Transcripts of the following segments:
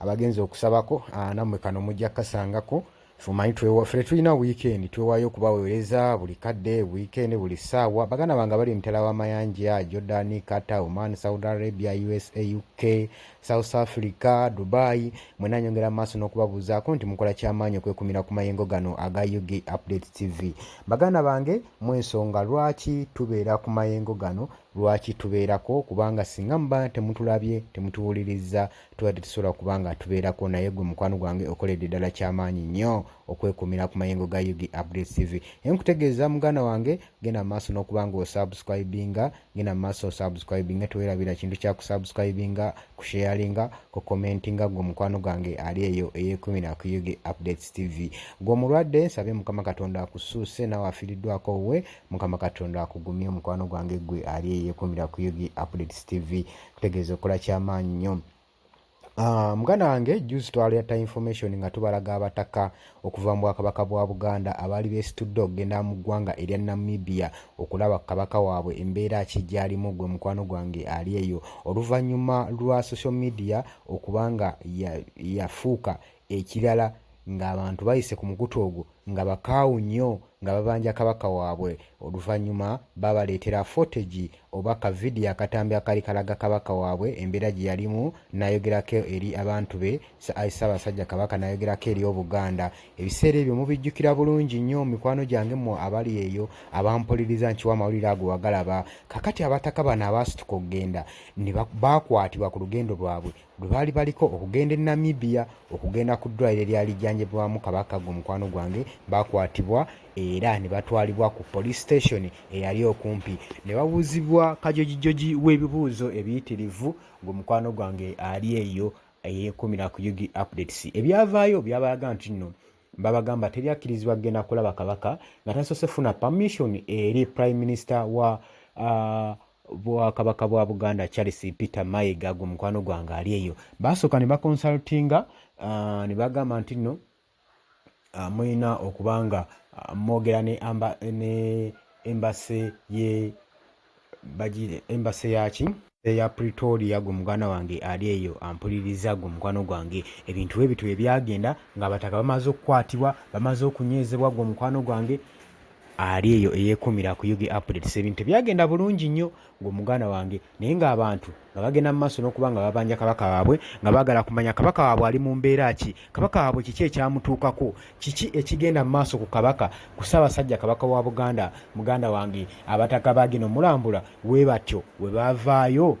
abagenzi okusabako ah, namwe kano mujja kasangako fumanyi fere tulina weekend twewayo okubawereza buli kadde weekend buli saawa baganda bange abali emitala wamayanja jordan qatar oman saudi arabia usa uk south africa dubai mwena nyongera maaso n'okubabuuzaako nti mukola kyamaanyi okwekumira ku mayengo gano aga ug update tv baganda bange mwensonga lwaki tubeera ku mayengo gano lwaki tubeerako kubanga singa muba temutulabye temutuwuliriza tubadde tusobola kuba nga tubeerako naye gwe mukwano gwange okoledde ddala kyamaanyi nnyo okwekumira ku mayengo ga ug update tv naye nkutegeeza muganda wange genda mu maaso n'okuba nga osubscribinga genda mu maaso osubscribinga tewerabira kintu kya kusubscribinga kusheyalinga ku commentinga gwe mukwano gwange ali eyo eyekumira ku ug updates tv gwe omulwadde nsabye mukama katonda akusuuse nawe afiiriddwako we mukama katonda akugumye mukwano gwange gwe ali eyekumira ku ug updates tv kutegeeza okola kyamaanyi nnyo Ah, muganda wange juzi twaleta information nga tubalaga abataka okuva mu bwakabaka bwa buganda abaali besitudde okugenda mu ggwanga erya namibia okulaba ku kabaka waabwe embeera ki gyalimu gwe mukwano gwange ali eyo oluvannyuma lwa social media okubanga yafuuka ya Ekirala ng'abantu bayise ku mukutu ogwo nga bakaawu nnyo nga babanja Kabaka waabwe oluvannyuma baabaleetera footage oba ka vidiyo akatambi akaali kalaga Kabaka waabwe embeera gye yalimu n'ayogerako eri abantu be ayi Ssaabasajja Kabaka n'ayogerako eri Obuganda. Ebiseera ebyo mubijjukira bulungi nnyo mikwano gyange mmwe abali eyo abampuliriza nkiwa amawulire ago wagalaba. Kaakati abataka bano abaasituka okugenda ne baakwatibwa ku lugendo lwabwe lwe baali baliko okugenda e Namibia okugenda ku ddwaliro eryali jjanjabibwamu Kabaka gwe mukwano gwange baakwatibwa era ne batwalibwa ku police station eyali okumpi ne babuuzibwa kajojijoji w'ebibuuzo ebiyitirivu gwe mukwano gwange ali eyo eyeekuumira ku UG updates ebyavaayo byabalaga nti nno babagamba teri akkirizibwa kugenda kulaba Kabaka nga tasoose funa permission eri prime minister wa uh, bwakabaka bwa buganda charles peter mayiga gwe mukwano gwange ali eyo basooka ne bakonsultinga uh, ne bagamba nti nno uh, mulina okuba nga uh, mwogera ne, amba, ne embase ye bagire embase yaki eya pretoria gwe muganda wange ali eyo ampuliriza gwe mukwano gwange ebintu ebitwe ebyagenda ngaabataka bamaze okukwatibwa bamaze okunywezebwa gwe mukwano gwange ali eyo eyekumira ku ug updates ebintu byagenda bulungi nnyo ng'omuganda wange naye ng'abantu nga bagenda mu maaso n'okuba nga babanja kabaka waabwe nga baagala kumanya kabaka waabwe ali mu mbeera ki kabaka waabwe kiki ekyamutuukako kiki ekigenda mu maaso ku kabaka ku ssaabasajja kabaka wa buganda muganda wange abataka baagenda omulambula we batyo we bavaayo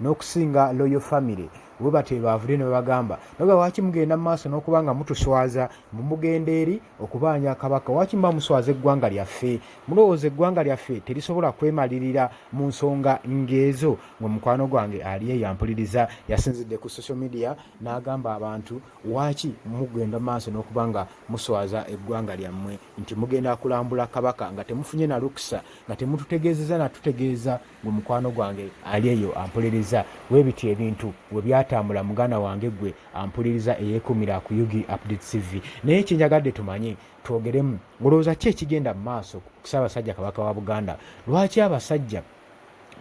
n'okusinga loyo famire we batyo ebaavudde ne babagamba naga waaki mugenda mu maaso n'okuba nga mutuswaza mbu mugenda eri okubaanya kabaka waaki muba muswaza eggwanga lyaffe mulowooza eggwanga lyaffe terisobola kwemalirira mu nsonga ng'ezo nga mukwano gwange ali eyo ampuliriza yasinzidde ku social media n'agamba abantu waaki mugenda mu maaso n'okuba nga muswaza eggwanga lyammwe nti mugenda kulambula kabaka nga temufunye na lukisa nga temututegeezeza natutegeeza gwe mukwano gwange ali eyo ampuliriza webiti ebintu we byatambula muganda wange gwe ampuliriza eyekumira ku ug update cv naye kyenjagadde tumanye twogeremu olowooza ki ekigenda mu maaso kusabasajja kabaka wa buganda lwaki abasajja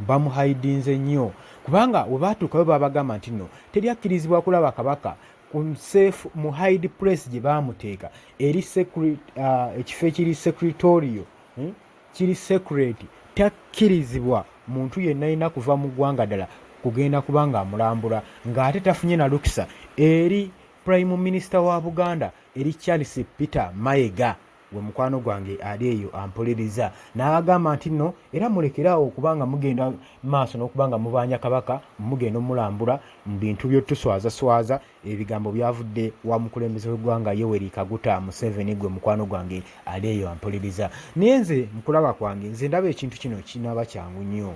bamuhaidinze nnyo kubanga webaatuukayo babagamba nti no teri akkirizibwa kulaba kabaka kunsefu mu hide press gye baamuteeka eri uh, ekifo ekiri secretorio hmm? kiri secret takkirizibwa muntu yenna yenna kuva mu ggwanga ddala kugenda kuba ng'amulambula ng'ate tafunye na lukisa eri prime minister wa buganda eri charles peter mayega gwe mukwano gwange ali eyo ampuliriza n'abagamba nti nno era mulekeraawo okuba nga mugenda maaso n'okuba nga mubanja kabaka mugenda omulambula mu bintu byotuswazaswaza Ebigambo byavudde wa mukulembeze w'eggwanga Yoweri Kaguta Museveni gwe mukwano gwange ali eyo ampuliriza. Naye nze mukulaba kwange nze ndaba ekintu kino kinaaba kyangu nnyo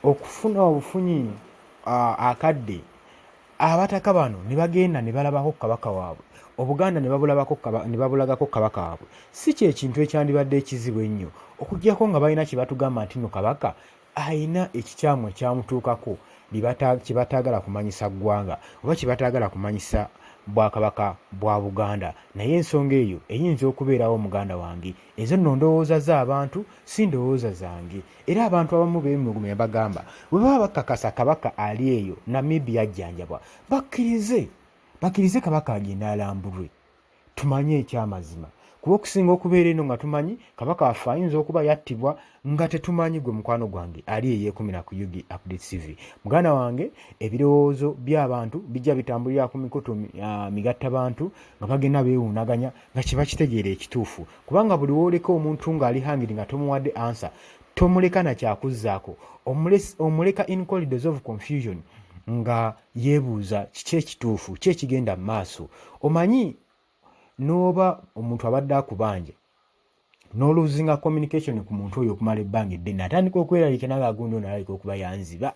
okufuna obufunyi akadde abataka bano ne bagenda ne balabako ku kabaka waabwe obuganda ne babulagako ku kabaka waabwe si kyekintu ekyandibadde ekizibu ennyo okugyako nga balina kye batugamba nti no kabaka alina ekikyamu ekyamutuukako kye bataagala kumanyisa ggwanga oba kye bataagala kumanyisa bwakabaka bwa buganda naye ensonga eyo eyinza okubeerawo muganda wange ezo nno ndowooza z'abantu si ndowooza zange era abantu abamu beemulugume ne bagamba bwe baba bakakasa kabaka ali eyo namibi yajjanjabwa bakkirize bakkirize kabaka agende alambulwe tumanye ekyamazima kuba okusinga okubeera eno nga tumanyi kabaka waffe ayinza okuba yattibwa nga tetumanyi gwe mukwano gwange ali eyekumira ku ug update tv muganda wange ebirowoozo by'abantu bijja bitambulira ku mikutu uh, migatta bantu nga bagenda beewuunaganya nga kiba kitegeera ekituufu kubanga buli wooleka omuntu ng'ali hangiri nga tomuwadde ansa tomuleka nakyakuzzaako omuleka in collidos of confusion nga yeebuuza kiki ekituufu ki ekigenda mu maaso omanyi n'oba omuntu abadde akubanja n'oluzinga communication ku muntu oyo okumala ebbanga eddene atandika okweraliikana nga agundi ono alalika okuba yanziba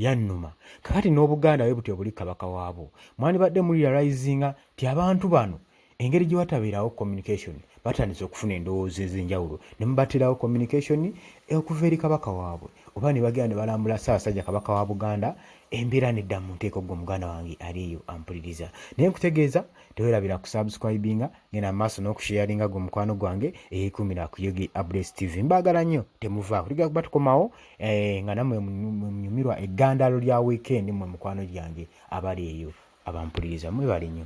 yannuma kakati n'obuganda bwe butyo buli kabaka waabwo mwandibadde muliralizinga ti abantu bano engeri gye watabeerawo communication batandise okufuna endowooza ez'enjawulo ne mubaterawo communication okuva eri kabaka waabwe oba ne bagenda ne balambula ssaabasajja kabaka wa buganda embeera nedda mu nteeko gwe muganda wange ali eyo ampuliriza naye nkutegeeza tewerabira kusubscribinga ngenda maaso n'okusheyaringa gwe mukwano gwange eyekumira ku yogi abres tv mbaagala nnyo temuvaako tugera kuba tukomawo eh, nga namwe munyumirwa eggandaalo lya wiikendi mwe mukwano gyange abali eyo abampuliriza mwebali nnyo